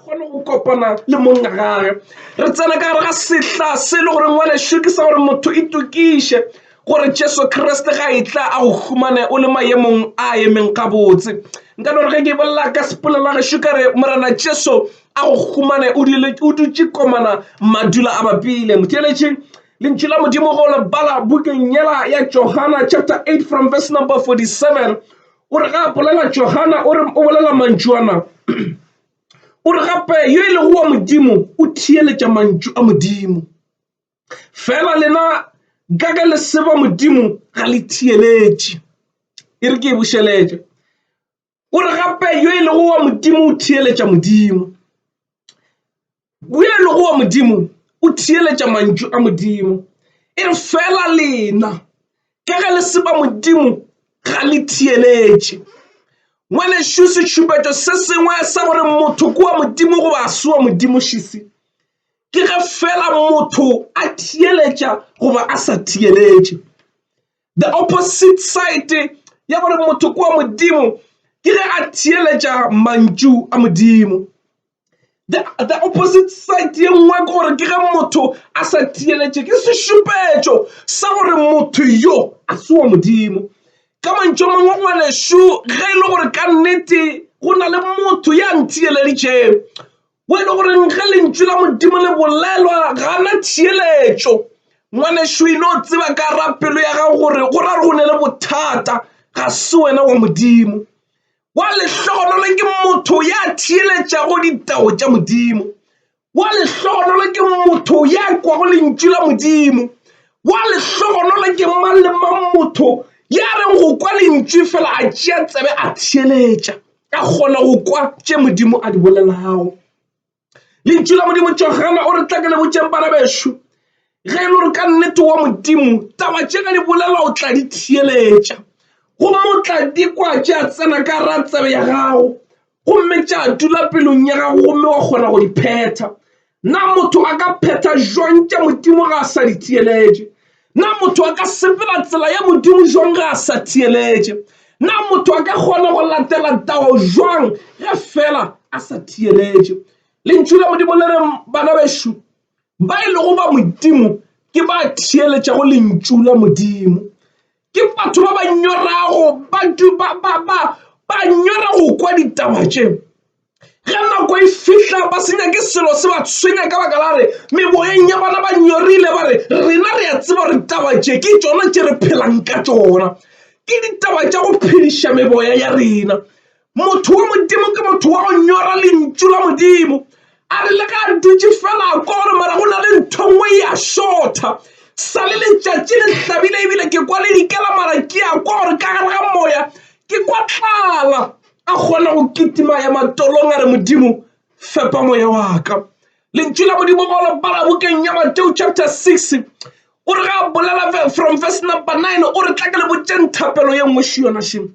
kgone go kopana le monna gage re tsena ka gare ga sehla se e le goreng wa lešo ke sa gore motho e tokiše gore jesu kriste ga e tla a go humane o le maemong a emeng gabotse nka no re ge ke bolela ka sepolela gešo ka re morena jesu a go humane o dutše komana madula a bapile motheletše lentšu la modimo go le bala bukeng yela ya johana chapter 8 from verse number 47 o re ga a bolela johana o re o bolela mantšu ana o re gape yo e lego wa modimo o theeletša mantšu a modimo fela lena ka ka le seba modimo ga le theeletše e re ke e bošeletša o re gape yo e lego wa modimo o theeletša modimo Boelogo wa Modimo o theeletša mantšu a Modimo, e re fela lena ka ge le seba Modimo ga le theeletše. Ngwanešu, setšhupetšo se sengwe sa gore motho ke wa Modimo goba a se wa Modimo šisi ke ge fela motho a theeletša goba a sa theeletše. the opposite side ya gore motho kwa modimo ke ge a theeletša mantšu a modimo the, the opposite side ye nngwe ke gore ke ge motho a sa theeletše ke sešupetšo sa gore motho yo a se wa modimo ka mantšu mangwe ngwanešu ge e le gore ka nnete go na le motho ya ntheeleditšeng Mo e le goreng ge lentšu la Modimo le bolelwa gana theeletšo. Ngwanešu e no tseba ka ra pelo ya gago gore go ra go ne le bothata ga se wena wa Modimo. Wa lehlogonolo ke motho ya theeletšago ditao tša Modimo. Wa lehlogonolo ke motho ya kwago lentšu la Modimo. Wa lehlogonolo ke mang le mang motho ya reng go kwa lentšu fela a tšea tsebe a theeletša. ka kgona go kwa tše modimo a di bolelago lentšu la modimo johana o re tla ke le botšeng bana bešo ge e le gore ka nnete wa modimo taba tše ka di bolela o tla di theeletša gomme o tla di kwa tše a tsena ka ra tsebe ya gago gomme tša dula pelong ya gago gomme wa kgona go di phetha Na motho a ka phetha jwang tša Modimo ga a sa di theeletše? Na motho a ka sepela tsela ya Modimo jwang ga a sa theeletše? Na motho a ka kgona go latela tao jwang ge fela a sa theeletše? Lentšu la Modimo le re bana bešo ba e lego ba Modimo ke ba theeletšago lentšu la Modimo. Ke batho ba ba nyorago batho ba ba ba ba nyora go kwa ditaba tše ge nako e fihla ba se nyake selo se ba tshwenya ka baka la re meboyeng ya bona ba nyorile ba re rena re a tseba gore taba tše ke tšona tše re phelang ka tšona ke ditaba tša go phediša meboya ya rena Motho wa Modimo ke motho wa go nyora lentšu la Modimo. A re le ga a dutše fela a kwa gore mara go na le ntho nngwe e a šotha sa le letšatši le hlabile ebile ke kwa le dikela mara ke a kwa gore ka gare ga moya ke kwa tlala a kgona go kitima ya matolong a re modimo fepa moya wa ka lentšu la modimo go le bala bokeng ya mateo chapter 6 o re ga a bolela from verse number 9 o re tla ke le botšeng thapelo ye nngwe šo yona šeng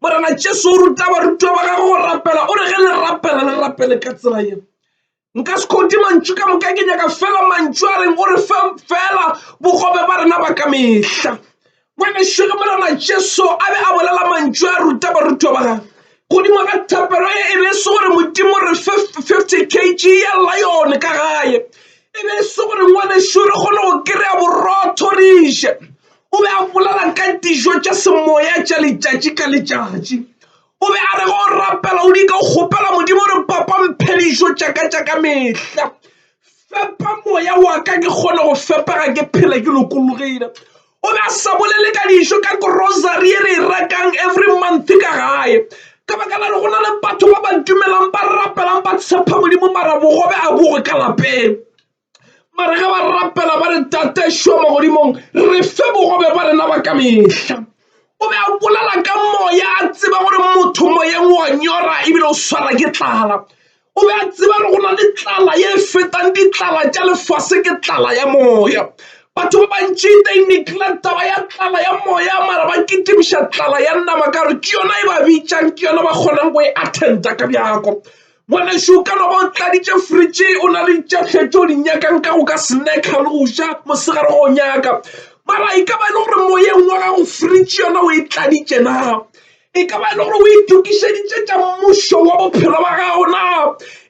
morena jesu o ruta barutwa ba gagwe go rapela o re ge le rapela le rapele ka tsela ye nka se khodi mantšu ka moka ke nyaka fela mantšu a reng o re fe fela bogobe ba rena ba ka mehla ngwaneso ge morena jesu a be a bolela mantšu a ruta barutwa ba gagwe godimo ga thapelo ye e be e se gore modimo re fe fifty kg ya lione ka gae e be e se gore ngwaneso re kgone go kry-a borotho re je o be a bolela ka dijo tša semoya tša letšatši ka letšatši o be a re go rapela o di ka o kgopela modimo re papa mphe dijo tšaka tša ka mehla fepa moya wa ka ke kgone go fepega ke phela ke lokologile o be a sa bolele ka dijo ka grocery e re e rekang every month ka gae ka baka la re go na le batho ba ba dumelang ba rapelang ba tshepa modimo mara bogobe a bogo ka lapeng mare ge ba rapela ba re tate šo magodimong re fe bogobe ba rena ba ka mehla o be a bolela ka moya a tseba gore motho moyeng wa nyora ebile o swara ke tlala o be a tseba gore go na le tlala ye e fetang ditlala tša lefase ke tlala ya moya batho ba bantši they neglect taba ya tlala ya moya mara ba kitimiša tlala ya nama ka gore ke yona e ba bitšang ke yona ba kgonang go e attenda ka bjako Ngwanešu, ka no ba o tladitše fridge, o na le tša hle tšeo di nyakang ka go ka snacker le go ja mosegare go nyaka. Mara e ka ba e le gore moyeng wa gago fridge yona o e tladitše na? E ka ba e le gore o itokišeditše tša mmušo wa bophelo ba gago na?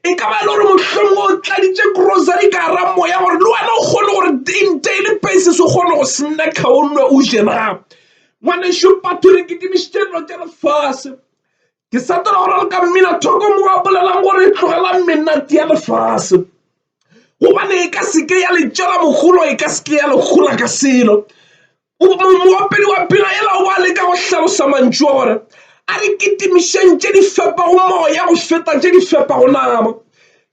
E ka ba e le gore mohlomongwe o tladitše grocery ka gara moya gore le wena o kgone gore in daily basis o kgone go snacker o nwe o je na? Ngwanešu, batho re kitimišitše dilo tša lefase. ke setela gore re ka mmina thoko mo a bolelang gore e tlogela menate ya lefase gobane e ka seke ya le tšela mogolo e ka seke ya le gola ka selo moopedi wa pina ela o ba le ka go hlalosa mantšu a gore a re kitimišeng tše di fepago moya go feta tše di fepago nama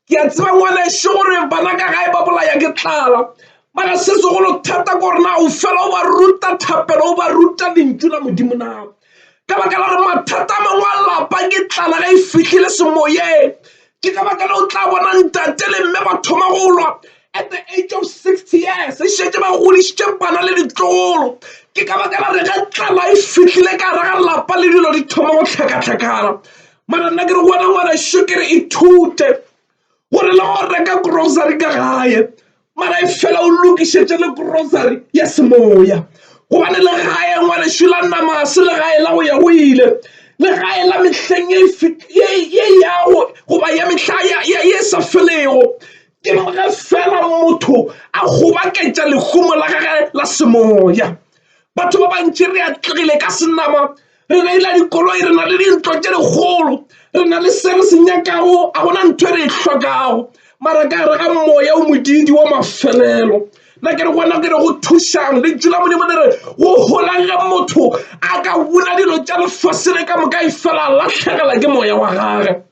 ke a tseba ngwaneše gore bana ka gae ba bolaya ke tlala mara se segolo thata ko gore na o fela o ba ruta thapelo o ba ruta lentšu la modimo na ka baka la gore mathata a mangwe a lapa ke tlala ge e fitlhile semoyeng ke ka baka le o tla bona ntate le mme ba thoma go lwa at the age of sixty years e šetse ba godišitše bana le ditlogolo ke ka baka la gore ge tlala e fitlhile ka gare ga lapa le dilo di thoma go hlakahlakana mara nna ke re wena ngwanašo ke re ithute gore le go reka grocery ka gae mara e fela o lokišetše le grocery ya semoya gobane le gae ngwanašo la nama se le gae la go ya go ile le gae la mehleng ye yago goba ya mehla ye sa felego ke ge fela motho a gobaketša lehumo la gage la semoya batho ba bantši re atlegile ka senama re reila dikoloi re na le dintlo tše dikgolo re na le se re se nyakago a gona ntho e re e hlokago mara ka gare ga moya o modidi wa mafelelo na ke re gona ke re go thušang le tšula modimo le re go golang ge motho a ka bula dilo tša lefase le ka moka e fela latlhegela ke moya wa gage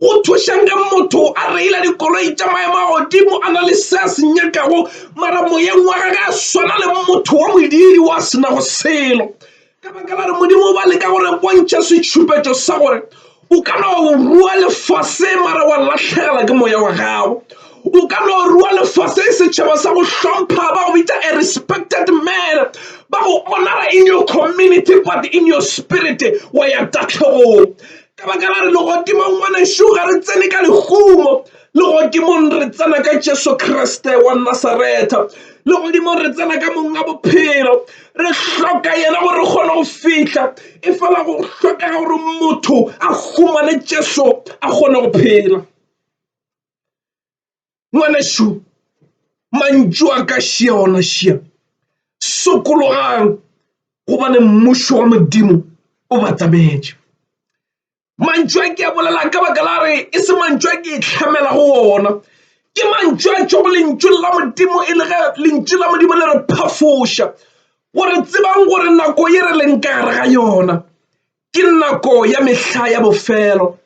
Go thušang ge motho a reila dikoloi tša maemo a godimo a na le se a se nyakago mara moyeng wa gage a swana le motho wa modiri wa se nago selo ka baka la re modimo ba leka gore bontšha setšhupetšo sa gore o ka no rua lefase mara wa latlhegela ke moya wa gago o ka no rua lefase e setšhaba sa go hlompha ba go bitsa a respected man ba go honora in your community but in your spirit wa ya tatlhegong Ka baka la re legodimong ngwanešu ga re tsene ka lehumo legodimong re tsena ka Jesu Kriste wa Nasaretha legodimong re tsena ka mong a bophelo re hloka yena gore re kgone go fihla e fela go hlokega gore motho a humane Jesu a kgone go phela ngwanešu mantšu a ka šia ona šia sokologang gobane mmušo wa modimo o batametše mantšu a ke a bolela ka baka la re e se mantšu a ke e tlhamela go ona ke mantšu a tšwa go lentšu la modimo e le ge lentšu la modimo le re phafoša gore tsebang gore nako ye re leng ka gare ga yona ke nako ya mehla ya bofelo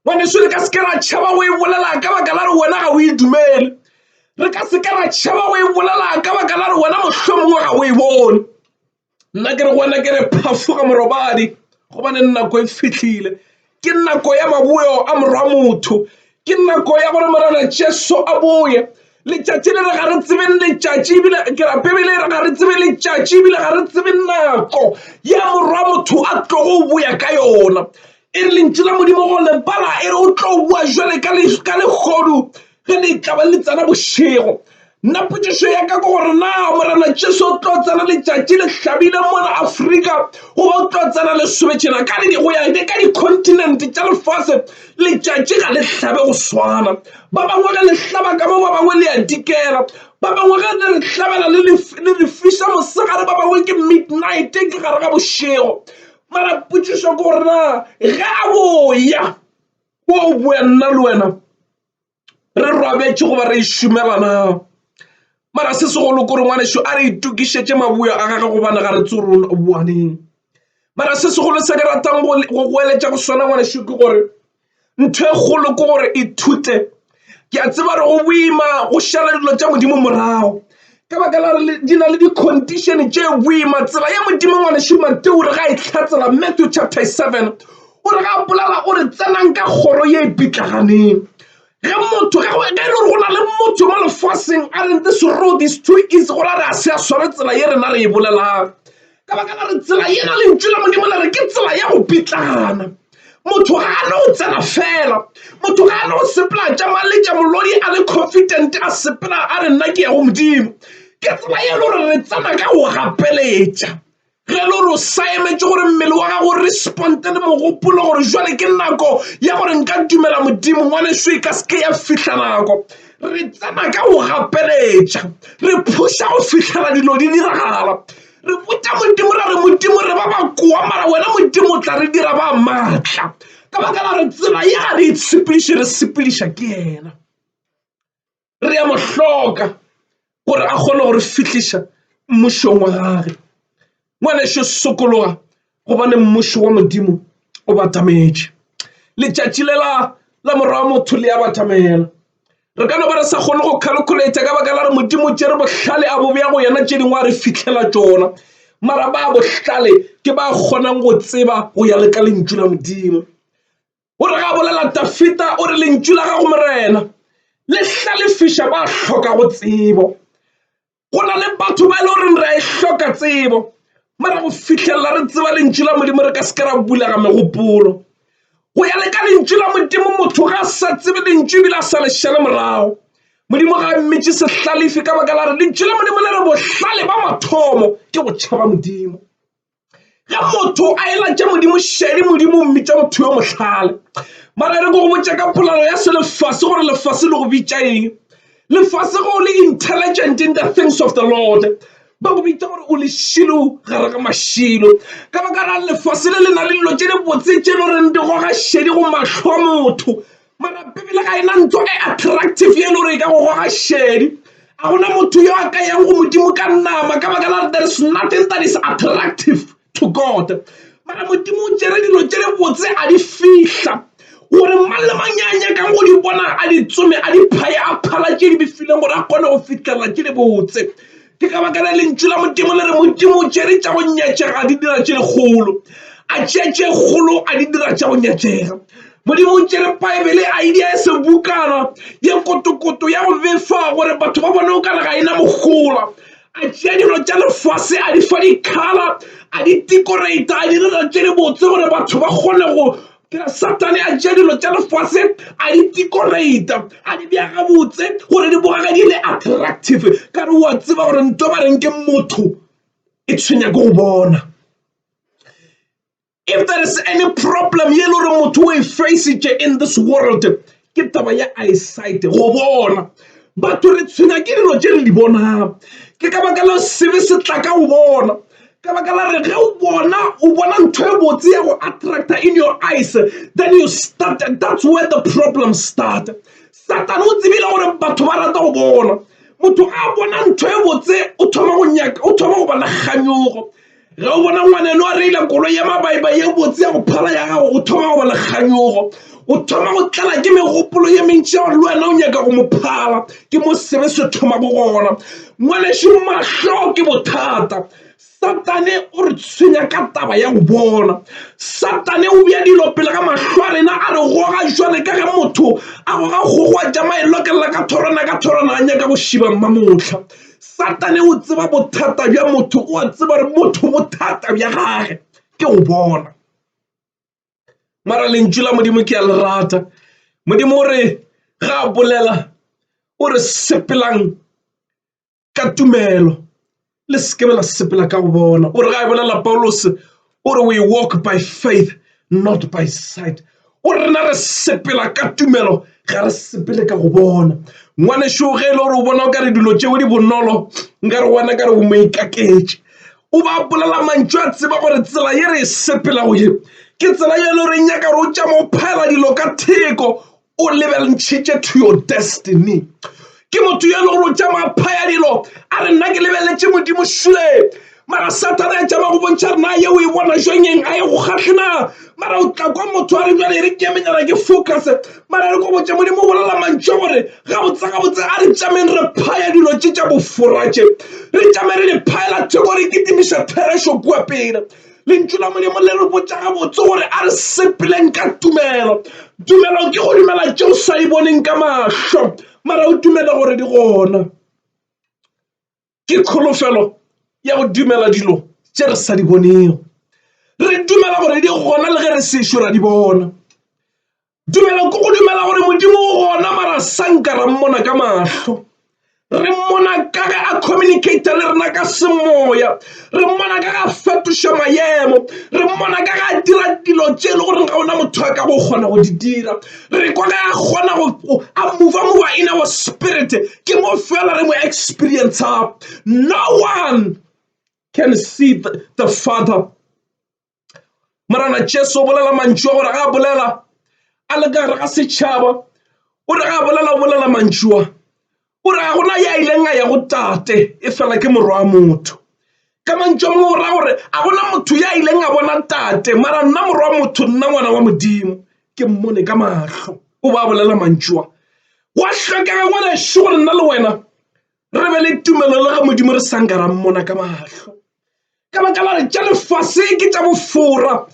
ngwaneso re ka se ke ra tšhaba go e bolela ka baka la re wena ga o e dumele re ka se ke ra tšhaba go e bolela ka baka la re wena mohlomongwe ga o e bone nna ke re gona ke re phafoga morobadi gobane nako e fitlhile ke nako ya maboyo a morwa motho Ke nako ya gore Morena Jesu a boye. Letšatši le re ga re tsebe letšatši ebile ke ra Bibele e re ga re tsebe letšatši ebile ga re tsebe nako ya morwa motho a tlogo o boya ka yona. E re lentši la Modimo go lebala e re o tlo boa jwale ka legodu ge le tla ba le tsena bošego. Nna potšišo ya ka ke gore na Morena Jesu o tlo tsena letšatši le hlabile mona Afrika goba o tlo tsena le sobetšena ka le go ya ke ka dicontinente tša lefase letšatši ga le hlabe go swana ba bangwe ge le hlaba ka mo ba bangwe le ya dikela ba bangwe ge le re hlabela le re fisa mosegare ba bangwe ke midnight ke gare ga bošego mara potšišo ke gore na ge a boya o boya nna le wena re robetše goba re šumelana mara se segolo kore ngwaneso a re itokišetše maboyo a gage gobane ga re tsorolo boaneng mara se segolo se ke ratang go goeletša go swana ngwaneso ke gore ntho e kgolo ke gore ithute ke a tseba re go boima go šala dilo tša modimo morago ka baka la re di na le di-condition tše boima tsela ya modimo ngwane šumate o re ga e tlhatsela matthew chapter 7 o re ga bolela o re tsenang ka kgoro ye e pitlaganeng ge motho ge e le gore go na le motho mo lefaseng a re this road is too easy gore a re a se a sware tsela ye rena re e bolelang Ka baka la re tsela yela lentšu la Modimo le re ke tsela ya go pitlana. Motho ga a no tsena fela. Motho ga a no sepela tša maletša molodi a le confident a sepela a re nna ke ya go Modimo. Ke tsela ye le gore re tsena ka go gapeletša ge le gore o saemetše gore mmele wa gago responde le mogopolo gore jwale ke nako ya gore nka dumela Modimo ngwaneso e ka seke ya fihla nako re tsena ka go gapeletša re phuša go fihlela dilo di diragala re botša modimo ra re modimo re ba bakoa mara wena modimo o tla re dira ba maatla ka baka la re tsela ya re e tshepediše re sepediša ke yena re ya mohloka gore a kgone gore fihliša mmušong wa gage ngwaneso sokologa gobane mmušo wa modimo o batametše letšatši le la la morwa wa motho le ya batamela re ka no ba re sa kgone go calculator ka baka la re modimo tše re bohlale a bobe ya go yena tše dingwe a re fitlhela tšona mara ba bohlale ke ba kgonang go tseba go ya le ka lentšu la modimo o re ga bolela tafita o re lentšu la gago morena le hlalefiša ba hloka go tsebo go na le batho ba e le goreng re a e hloka tsebo mara go fitlhelela re tseba lentšu la modimo re ka se ke ra bulega megopolo go ya le ka lentšu la modimo motho ga a sa tsebe lentšu ebile a sa lešele morago modimo ga a mmitše sehlalefi ka baka la re lentšu la modimo le re bohlale ba mathomo ke go tšhaba modimo ge motho a elatša modimo šedi modimo o mmitša motho yo mohlale mara re ko go botša ka polalo ya se lefase gore lefase le go bitša eng lefase go le intelligent in the things of the lord ba go bitša gore o lešilo gare ga mašilo ka baka la lefase le le na le dilo tše di botse tše le goreng di goga šedi go mahlo a motho mara bibele ga ena ntho e attractive ye le gore e ka go goga šedi a gona motho yo a ka yang go modimo ka nama ka baka la there is nothing that is attractive to god mara modimo o tšere dilo tše re botse a di fihla gore mang le mang ya nyakang go di bona a di tsome a di phaye a phala tše di bifileng gore a kgone go fitlhelela tše di botse Ke ka baka la lentšu la Modimo le re Modimo o tšere tša go nyatšega a di dira tše kgolo a tšea tše kgolo a di dira tša go nyatšega modimo o tšere baebele a e dia e sebukana ye kotokoto ya go befa gore batho ba bone o kare ga e na mogola a tšea dilo tša lefase a di fa dikgala a di tikorata a di dira tše di botse gore batho ba kgone go Ke re Sathane a tšea dilo tša lefase a di decorata a di bea gabotse gore di bogage di le attractive ka re wa tseba gore nto ba reng ke motho e tshwenya ke go bona if there is any problem ye le gore motho o e facitše in this world ke taba ya eyesight go bona batho re tshwenya ke dilo tše re di bonang ke ka baka la sebe se tla ka o bona ka baka la re ge o bona o bona ntho e botse ya go attracta in your eyes then you start that's where the problem start satane o tsebile gore batho ba rata go bona motho a bona ntho e botse o thoma go nyaka o thoma go bona kganyogo Ge o bona ngwaneno a reila koloi ya mabaiba ye botse ya go phala ya gago o thoma go ba le kganyogo o thoma go tlala ke megopolo ye mentši ya gore le wena o nyaka go mo phala ke mo sebe se thoma go gona ngwaneso mahlo ke bothata satane o re tshwenya ka taba ya go bona satane o bja dilo pele ga mahlo a rena a re goga jwale ka ge motho a goga kgogoa ja maelokelela ka thorwana ka thorwana a nyaka go šiba mmamotlha satane o tseba bothata bja motho o a tseba gore motho bothata bja gage ke o bona mara lentšu la modimo ke ya le rata modimo o re ga a bolela o re sepelang ka tumelo le sekebe la sepela ka go bona o re ga e bolela paulose O re, We walk by faith, not by sight. O re, Rena re sepela ka tumelo, ga re sepele ka go bona. Ngwanešu ge e le gore o bona o ka re dilo tšeo di bonolo, nka re wena ka re o mo ikaketše. O ba bolela mantšu a tseba gore tsela ye re e sepelago ye ke tsela ye e le gore e nyaka gore o tšama o phaela dilo ka theko, o lebelntšhitše to your destiny ke motho yo e le gore o tšamaya phaya dilo a re nna ke lebeletše modimo šule mara satana ya tšama go bontšha rena ye o e bona jonyeng a ye go kgatlhena mara o tla kwa motho a re jale e re ke emenyana ke focus mara re ko botse modimo bolela mantšho gore gabotse gabotse a re tšameng re phaya dilo tše tša boforatše re tšame re di phaela theko re kitimiša therešo kua pele Lentšu la Molimo le re botša gabotse gore a re sepeleng ka tumelo. Tumelo ke go dumela tše o sa e boneng ka mahlo mara o dumele gore di gona. Ke kholofelo ya go dumela dilo tše re sa di bonego. Re dumela gore di gona le ge re sešo ra di bona. Tumelo ke go dumela gore modimo o gona mara sanka ra mmona ka mahlo re mmona ka ge a communicata le rena ka semoya re mmona ka ga fetoša mayemo re mmona ka ga dira dilo tše e le goreng ga ona motho a ka go kgona go di dira re kwa ka a kgona go a mova mova in our spirit ke mo fela re mo experience no one can see the, the father morana jesu o bolela mantšu a gore ga a bolela a le ka gare ga setšhaba o re ga a bolela o bolela mantšua o re ga gona ya ileng a ya go tate e fela ke morwa wa motho ka mantšu a mangwe o raya gore a gona motho ya ileng a bona tate mara nna morwa wa motho nna ngwana wa modimo ke mmone ka matlho o ba bolela mantšua wa hlokega ngwaneso gore nna le wena re be le tumelo le ge modimo re sanka ra mmona ka mahlo ka baka la re tša lefase ke tša bofora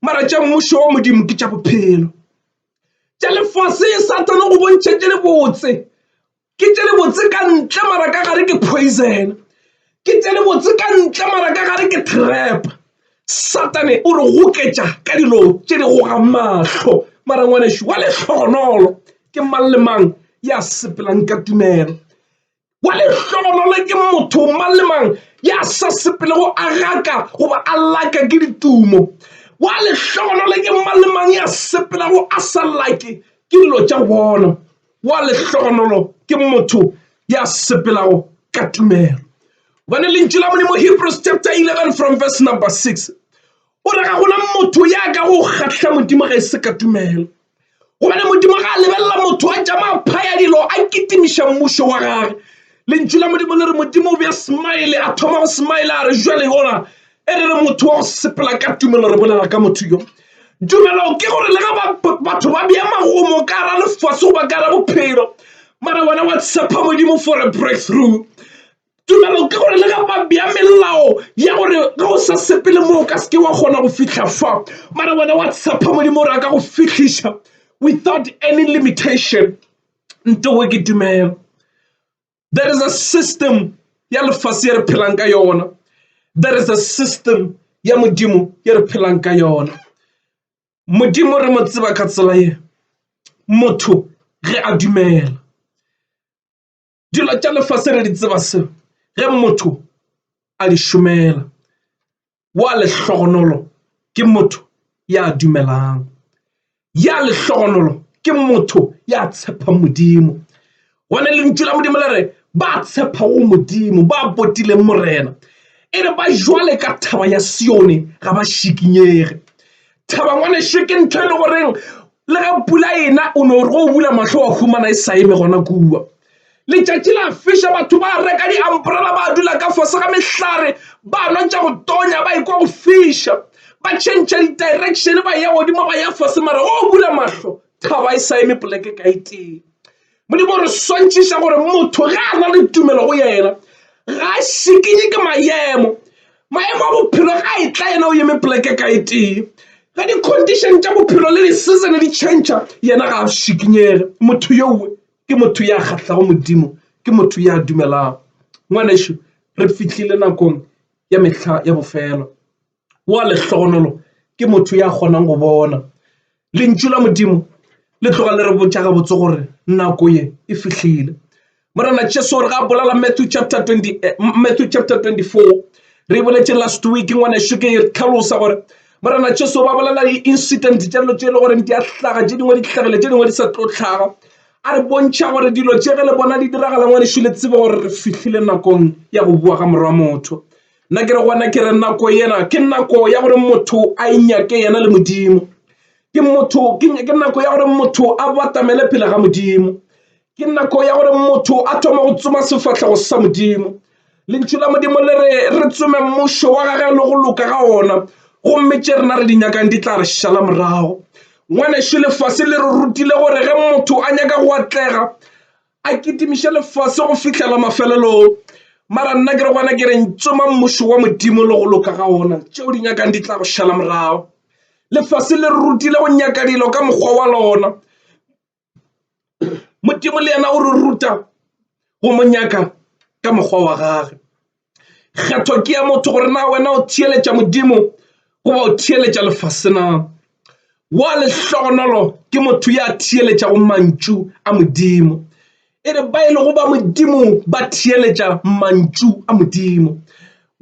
mara tša mmušo wa modimo ke tša bophelo tša lefase e satana go bontšha tše le botse ke tše le botse ka ntle mara ka gare ke poison ke tše le botse ka ntle mara ka gare ke trap Satane o re goketša ka dilo tše di goga mahlo. Mara ngwanešu wa lehlogonolo ke mang le mang ya sepelang ka tumelo. Wa lehlogonolo ke motho mang le mang ya sa sepelego a gaka goba a laka ke ditumo. Wa lehlogonolo ke mang le mang ya sepelago a sa lake ke dilo tša go bona. wa lehlogonolo ke motho ya sepelago ka tumelo gobane lentšu la modimo hebrews chapter 11 from verse number 6 o re ga gona motho ya ka go kgahla modimo ga e se ka tumelo gobane modimo ga a lebelela motho a tšama phaya dilo a kitimiša mmušo wa gage lentšu la modimo le re modimo o be a smile a thoma go smile a re jale gona e re re motho wa go sepela ka tumelo re bolela ka motho yo tumelo ke gore le ga batho ba bea magomo ka ra lefase goba ka ra bophelo mara wena wa tshepa modimo for a breakthrough tumelo ke gore le ga ba bea melao ya gore ge o sa sepele moo ka seke wa kgona go fitlha fa mara wena wa tshepa modimo gore a ka go fitlhiša without any limitation ntowe ke tumelo there is a system ya lefase ye re phelang ka yona there is a system ya modimo ye re phelang ka yona modimo re mo tseba ka tsela ye motho ge a dumela dilo tša lefase re di tseba se ge motho a di šomela wa lehlogonolo ke motho ya dumelang ya lehlogonolo ke motho ya tshepang modimo gone lentšu la modimo le re ba tshepago modimo ba botileng morena e re ba jwale ka thaba ya sione ga ba šikinyege thaba ngwaneše ke ntho e le goreng le ga pula ena o no re go bula mahlo wa humana e sa eme gona kua Letšatši la fiša, batho ba reka diambrela ba dula ka fase ga mehlare ba nwa tša go tonya ba ekwa go fiša. Ba tšhentšha di-direction ba ya godimo ba ya fase mara o bula mahlo thaba e sa eme poleke ka etee. Modimo re swantšhiša gore motho ge a na le tumelo go yena ga a šikinye ke maemo maemo a bophelo ga e tla yena o yeme poleke ka e tee ge di-condition tša bophelo le di-season di change yena ga a šikinyege motho yowe ke motho ya kgahlago modimo ke motho ya dumelago ngwanešu re fihlile nakong ya mehla ya bofelo wa lehlogonolo ke motho ya kgonang go bona lentšu la modimo le tloga le re botša gabotse gore nako ye e fihlile morena jesu gore ga bolala matthew chapter 20 eh, matthew chapter 24 re boletše last week ngwanešu ke tlhalosa gore Morena Jesu ba bolela di-incident tša dilo tše e le gore di a hlaga tše dingwe di tlhagile tše dingwe di sa tlo tlhaga a re bontšha gore dilo tše ge le bona di diragala ngwanešu le tsebe gore re fihlile nakong ya go bua ga morwa motho nna ke re gona ke re nako yena ke nako ya gore motho a inyake yena le modimo ke motho ke nako ya gore motho a batamele pele ga modimo ke nako ya gore motho a thoma go tsoma sefatlhego sa modimo lentšu la modimo le re re tsome mmušo wa gage le go loka ga ona gomme tše rena re di nyakang di tla re šala morago ngwanešu lefase le re rutile gore ge motho a nyaka go atlega a kitimiše lefase go fihlela mafelelong mara nna ke re gona ke reng tsoma mmušo wa modimo le go loka ga ona tšeo di nyakang di tla go šala morago lefase le re rutile go nyaka dilo ka mokgwa wa lona modimo le yena o re ruta go mo nyaka ka mokgwa wa gage kgetho ke ya motho gore na wena o theeletša modimo goba o theeletša lefase na wa lehlogonolo ke motho ya theeletšago mantšu a modimo E re ba e lego ba Modimo ba theeletša mantšu a Modimo.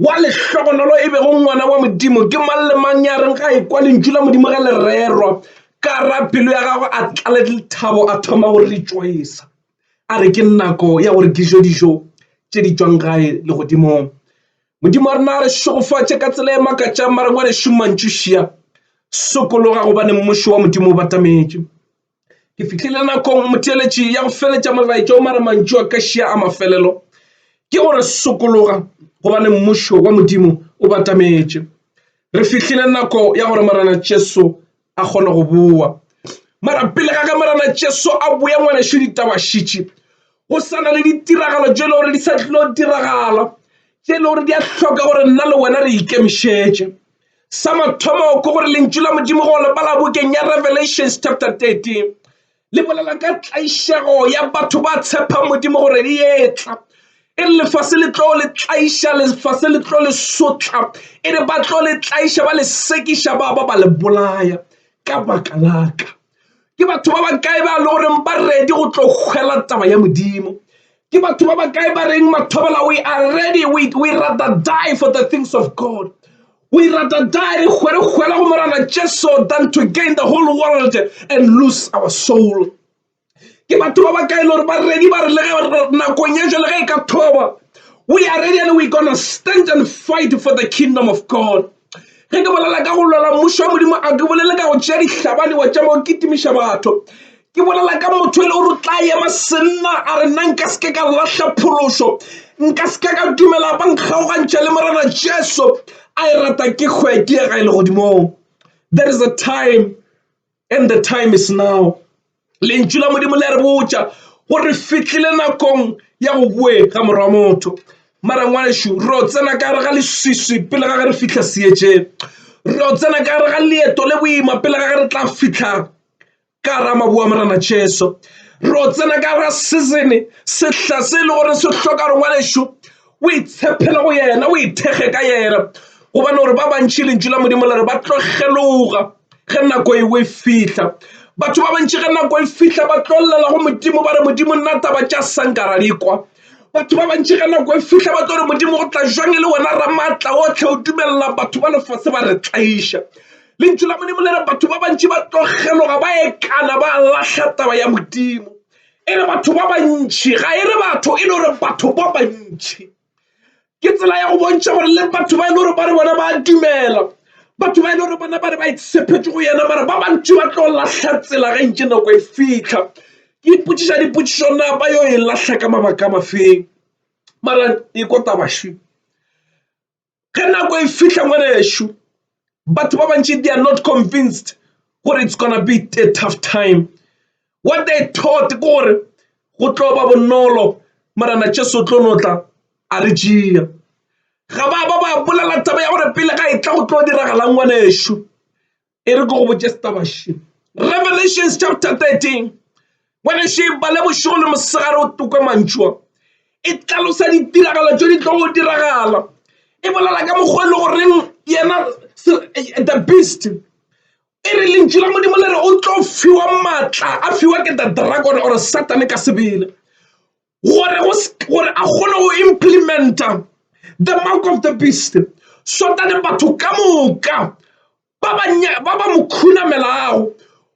Wa lehlogonolo e bego ngwana wa Modimo ke mang le mang ya reng ga e kwa lentšu la Modimo ge le rerwa ka ra pelo ya gagwe a tlale lethabo a thoma go rejoisa a re ke nako ya gore ke jo dijo tše di tšwang gae legodimong. Modimo wa rena a re šegofatše ka tsela e makatšang mare ngwanešu mantšušia sokologa gobane mmušo wa Modimo o batametše. Ke fihlile nakong motheeletši ya go feletša molaetša o mara mantšu a ka šia a mafelelo ke gore sokologa gobane mmušo wa modimo o batametše re fihlile nako ya gore morena jesu a kgone go boa mara pele ga ge morena jesu a boya ngwanešu ditabašitši go sa na le ditiragalo tše e le gore di sa tlilo diragala tše e le gore di a hloka gore nna le wena re ikemišetše Sa mathomo ke gore lentšu la Modimo go le bala bukeng ya Revelations chapter 13 le bolela ka tlaišego ya batho ba tshepang Modimo gore e etla e re lefase le tlo le tlaiša lefase le tlo le sotla e re ba tlo le tlaiša ba le sekiša ba ba ba le bolaya ka baka laka ke batho ba bakae ba le goreng ba ready go tlo kgwela taba ya modimo ke batho ba bakae ba reng mathobela we are ready we, we rather die for the things of god we rather die re kgwere kgwela go morana jesu than to gain the whole world and lose our soul ke batho ba bakae le gore ba ready ba re le ge nakong ye jale ge e ka thoba we are ready and we gonna stand and fight for the kingdom of god ge ke bolela ka go lwela mmušo wa modimo a ke bolele ka go tšea dihlabane wa tšama o kitimiša batho ke bolela ka motho e le gore o tla ema senna a re nna nka seke ka lahla phološo nka seke ka dumela ba nkgaogantšha le morena jesu a e rata ke hwe ke ye ga e le godimong there is a time And the time is now. Lentšu la Modimo le a re botša gore re fitlhile nakong ya go boe ga morwa wa motho. Mara ngwanešu, ro tsena ka gare ga leswiswi pele ga ge re fitlha seetšeng. Ro tsena ka gare ga leeto le boima pele ga ge re tla fitlha ka gare ga maboa Morena Jesu. Ro tsena ka gare ga seasone, sehla se e le gore se hloka gore ngwanešu o itshepele go yena o ithekge ka yena gobane gore ba bantši lentšu la modimo le re ba tlo kgeloga ge nako eo e fihla batho ba bantši ge nako e fihla ba tlo llela go modimo ba re modimo nna taba tša sankara di kwa batho ba bantši ge nako e fihla ba tlo re modimo go tla jwang e le wena ramaatla otlhe o dumelela batho ba lefase ba re tlaiša lentšu la modimo le re batho ba bantši ba tlo kgeloga ba ekana ba lahla taba ya modimo e re batho ba bantši ga e re batho e le gore batho ba bantši ke tsela ya go bontšha gore le batho ba e le gore ba re bona ba dumela batho ba e le gore bona ba re ba itshephetše go yena mara ba bantši ba tlo lahla tsela ge ntše nako e fitlha ke ipotšiša dipotšišo na ba yo e lahla ka mabaka a mafeng mara e ko tabašwi ge nako e fihla ngwanešu batho ba bantši they are not convinced gore it's gonna be a tough time what they thought ke gore go tlo ba bonolo marena jesu o tlo no tla a re jea ga ba ba ba bolela taba ya gore pele ga e tla go tlo diragalang ngwanešu e re ke go botše setaba še revelations chapter 13 bone še ba le bošego le mosegare o toka mantšua e tlalosa ditiragalo tšo di tlo go diragala e bolela ka mokgwa e le goreng yena the beast e re lentšu la modimo le re o tlo fiwa maatla a fiwa ke the dragon or satane ka sebele gore go gore a kgone go implementa the mark of the beast sotane batho ka moka ba ba mo khunamelago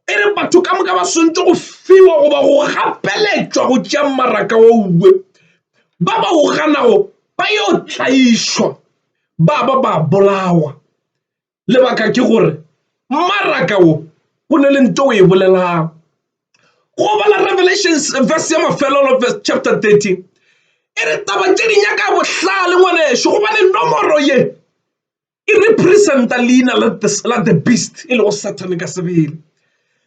e re batho ka moka ba swantse go fiwa goba go gapeletšwa go tšea maraka wa uwe ba ba o ganago ba yo tlaišwa ba ba ba bolawa lebaka ke gore mmaraka o o ne le nto o e bolelang go bala revelations verse ya mafelelo verse chapter 13 e re taba tše di nyaka bohlale ngwaneso gobane nomoro ye e representa leina la the beast e lego satan ka sebele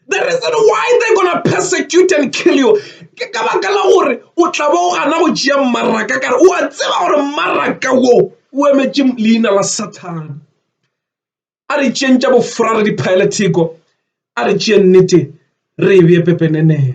The reason why they gonna persecute and kill you ke ka baka la gore o tla ba o gana go tšea mmaraka kare o a tseba gore mmaraka wo o emetše leina la sathane a re tšeng tša bofora re diphaele theko a re tšee nnete re e bee pepeneneo